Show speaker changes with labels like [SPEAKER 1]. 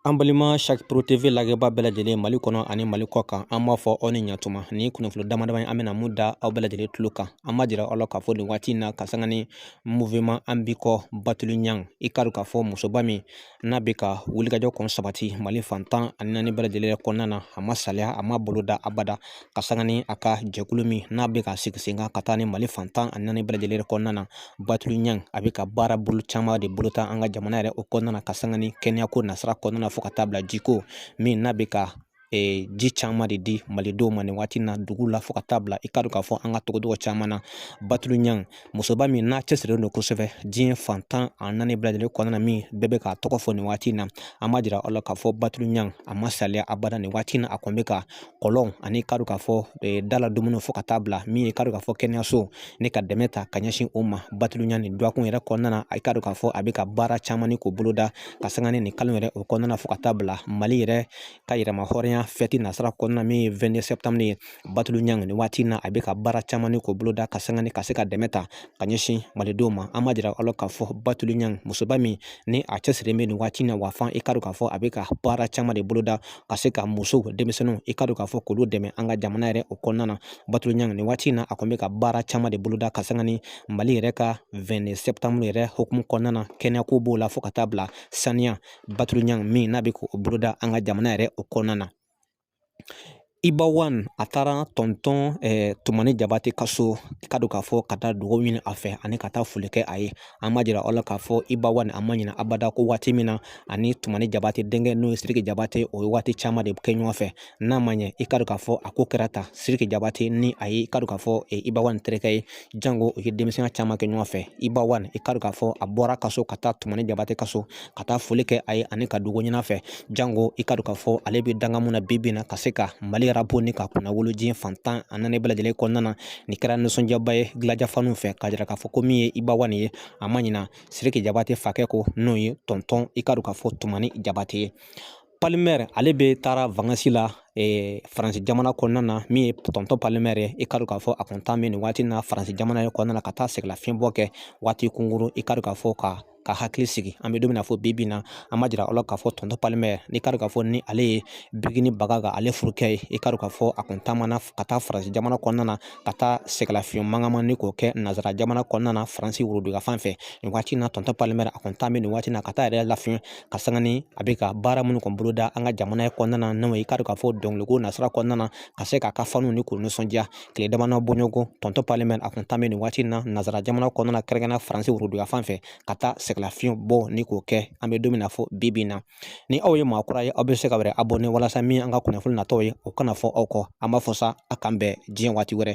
[SPEAKER 1] An balima sari TV lajɛbaa bɛɛ lajɛlen mali kɔnɔ ani mali kɔ kan an b'a fɔ aw ni ɲɛtuma ni kunnafoni damadama an bɛna min da aw bɛɛ lajɛlen tulo kan an b'a jira aw la k'a fɔ nin waati in na ka sanga ni muvɛman an bi kɔ batulu ɲan i k'a dɔn k'a fɔ musoba min n'a bɛ ka wulikajɔ kɔni sabati mali fan tan ani naani bɛɛ lajɛlen kɔnɔna na a ma saliya a ma bolo da abada ka sanga ni a ka jɛkulu min n'a bɛ ka sigi sen kan ka taa ni mali fan tan ani naani bɛɛ lajɛlen yɛrɛ kɔnɔna na batulu ɲan a bɛ ka baara bolo caman de boloda an ka jamana yɛrɛ o kɔnɔna na ka sanga ni kɛnɛyako nasira kɔnɔna na fo ka taa bila jiko min n'a bɛ ka e, ji caman de di malidenw ma nin waati na dugu la fo ka taa bila i k'a dɔn k'a fɔ an ka togodugu caman na batulu ɲan musoba min n'a cɛsirilen don kosɛbɛ diɲɛ fan tan ani naani bɛɛ lajɛlen kɔnɔna min bɛɛ bɛ k'a tɔgɔ fɔ nin waati in na an b'a jira aw la k'a fɔ batulu ɲan a ma saliya abada nin waati in na a kɔni bɛ ka kɔlɔn ani i k'a dɔn k'a fɔ e, dala dumuni fo ka taa bila min ye i k'a dɔn k'a fɔ kɛnɛyaso ye ka dɛmɛ ta ka ɲɛsin o ma batulu ɲan nin dɔgɔkun yɛrɛ kɔnɔna na i k'a dɔn k'a fɔ a bɛ ka baara caman ni k'o boloda ka sanga ni nin kalo yɛrɛ o kɔnɔna fo ka taa bila mali yɛrɛ ka yɛrɛmahɔrɔnya fɛti nasira kɔnɔna min ye 22 septembre ye batulu ɲan nin waati in na a bɛ ka baara caman ni k'o boloda ka sanga ni ka se ka dɛmɛ ta ka ɲɛsin malidenw ma an b'a jira aw la k'a fɔ batulu ɲan musoba min ni a cɛsirilen bɛ nin waati in na wa fan i k'a dɔn k'a fɔ a bɛ ka baara caman de boloda ka se ka musow denmisɛnninw i k'a dɔn k'a fɔ k'olu dɛmɛ an ka jamana yɛrɛ o kɔnɔna na batulu ɲan nin waati in na a kɔni bɛ ka baara caman de boloda ka sanga ni mali yɛrɛ ka 22 septembre yɛrɛ hokumu kɔnɔna na kɛnɛyako b'o la fo ka taa bila saniya batulu ɲan min n'a bɛ k'o boloda an ka jamana yɛrɛ o kɔnɔna na Iba wan a taara tɔntɔn tumani jabate ka so i k'a dɔn k'a fɔ ka taa dugawu ɲini a fɛ ani ka taa foli kɛ a ye an b'a jira aw la k'a fɔ iba wan a ma ɲina abada ko waati min na ani tumani jabate denkɛ n'o ye siriki jabate u ye waati caman de kɛ ɲɔgɔn fɛ n'a ma ɲɛ i k'a dɔn k'a fɔ a ko kɛra ta siriki jabate ni a ye i k'a dɔn k'a fɔ iba wan terikɛ ye jango u ye denmisɛnya caman kɛ ɲɔgɔn fɛ iba wan i k'a dɔn k'a fɔ a bɔra a ka so ka taa tumani jabate ka so ka taa foli kɛ a ye ani ka dugawu ɲini a fɛ jango i k'a dɔn k'a fɔ ale bɛ dankan min na bi bi in na ka se ka mali yɛrɛ bonya k'a kunnawolo diɲɛ fan tan ani naani bɛɛ lajɛlen kɔnɔna na nin kɛra nisɔndiyaba ye gladia faniw fɛ k'a jira k'a fɔ ko min ye iba wan ye a ma ɲina siriki jabate fakɛ kɔ n'o ye tɔntɔn i k'a dɔn k'a fɔ tumani jabate ye palimɛri ale bɛ taara vakansi la faransi jamana kɔnɔna na min ye tɔntɔn palimɛri ye i k'a dɔn k'a fɔ a kɔni taamana nin waati na faransi jamana yɛrɛ kɔnɔna ka taa sɛgɛnlafiɲɛbɔ kɛ waati kunkurun i k'a dɔn k'a fɔ ka ka hakili sigi an bɛ don fɔ bi bi in na an b'a jira aw la k'a fɔ tɔntɔn palimɛri i k'a dɔn k'a fɔ ni ale ye bigini bagaka ale furukɛ ye i k'a dɔn k'a fɔ a kɔni taamana ka taa faransi jamana kɔnɔna na ka taa sɛgɛnlafiɲɛ mankama ni k'o kɛ nansara jamana kɔnɔna na faransi woroduguka fan fɛ nin waati na tɔntɔn palimɛri a kɔni taamana nin waati na ka taa a yɛrɛ lafiɲɛ ka sanga ni a bɛ ka baara minnu kɔni boloda an ka jamana in kɔnɔna na n'o ye i k'a dɔn k'a fɔ dɔnkileko nasira kɔnɔna na ka se k'a ka faniw ni k'u nisɔndiya tile damadɔ bɔɲɔgɔn tɔntɔn pal min a kun tan bɛ nin waati in na nansara jamana kɔnɔna na kɛrɛnkɛrɛnna faransi worodu yanfan fɛ ka taa sɛgɛnlafiɲɛ bɔ ni k'o kɛ an bɛ don min na fɔ bi bi in na ni aw ye maa kura ye aw bɛ se k'aw yɛrɛ abonné walasa min an ka kunnafoni natɔw ye o kana fɔ aw kɔ an b'a fɔ sa a k'an bɛn diɲɛ waati wɛrɛ